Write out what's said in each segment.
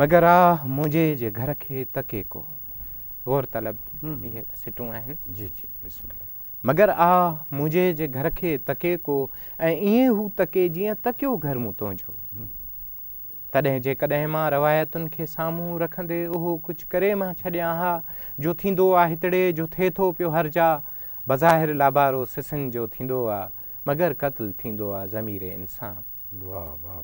مگر آ منهنجي جي گهر کي تڪي ڪو غور طلب اهي سٽون آهن جي جي بسم الله مگر آ منهنجي جي گهر کي تڪي ڪو ۽ ائين هو تڪي جيئن تڪيو گهر مون تنهنجو تڏهن جيڪڏهن مان روايتن کي سامهون رکندي اهو ڪجهه ڪري مان ڇڏيان ها جو ٿيندو آ هتڙي جو ٿئي ٿو پيو هر جا بظاهر لابارو سسن جو ٿيندو آ مگر قتل ٿيندو آ ضمير انسان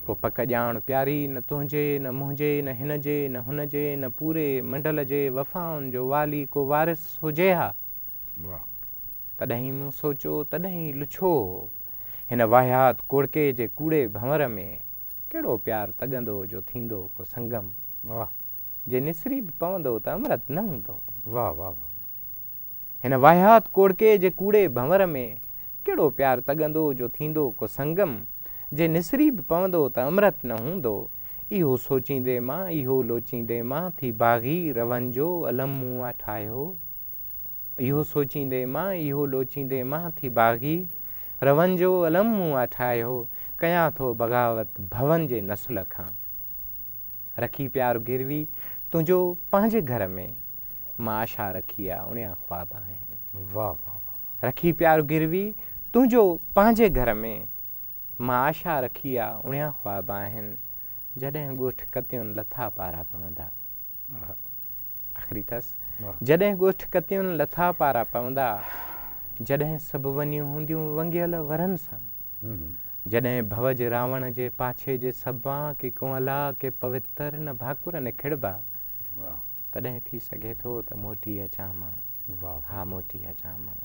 پوء پڪ ڄاڻ پياري، نه تنهنجي، نه منهنجي، نه هن جي، نه هن جي، نه پوري منڊل جي وفائن جو والي ڪو وارث هجي ها. تڏهن مون سوچيو، تڏهن لڇو هو. هن واهيات ڪوڙڪي جي ڪوڙي ڀنور ۾ ڪهڙو پيار تڳندو جو ٿيندو ڪو سنگم. جي نسري به پوندو ته امرت نه هوندو. هن واهيات ڪوڙڪي جي ڪوڙي ڀنور ۾ ڪهڙو پيار تڳندو جو ٿيندو ڪو سنگم، جي نسري به پوندو ته امرت نه هوندو. اهو سوچيندي مان، اهو لوچيندي مان ٿي باغي روهن جو الم مون آ ٺاهيو. اهو سوچيندي مان، اهو لوچيندي مان ٿي باغي روهن جو الم مون آ ٺاهيو. ڪيان ٿو بغاوت ڀون جي نسل کان. رکي پيار گروي تنهنجو پنهنجي گهر ۾، مان آشا رکي آ اڻيا خواب آهن. واھ واھ واھ. رکي پيار گروي تنهنجو پنهنجي گهر ۾، مان آشا رکي آ اڻيا خواب آهن، جڏهن ڳوٺ ڪتيون لٿا پارا پوندا. آخري ٿس جڏهن ڳوٺ ڪتيون لٿا پارا پوندا جڏهن سڀ ونيون هونديون ونگيل ورن سان جڏهن ڀوج راوڻ جي پاڇي جي سبان ڪي ڪونهلا ڪي پوتر نه ڀاڪر نه کڙبا تڏهن ٿي سگهي ٿو ته موٽي اچان مان ها موٽي اچان مان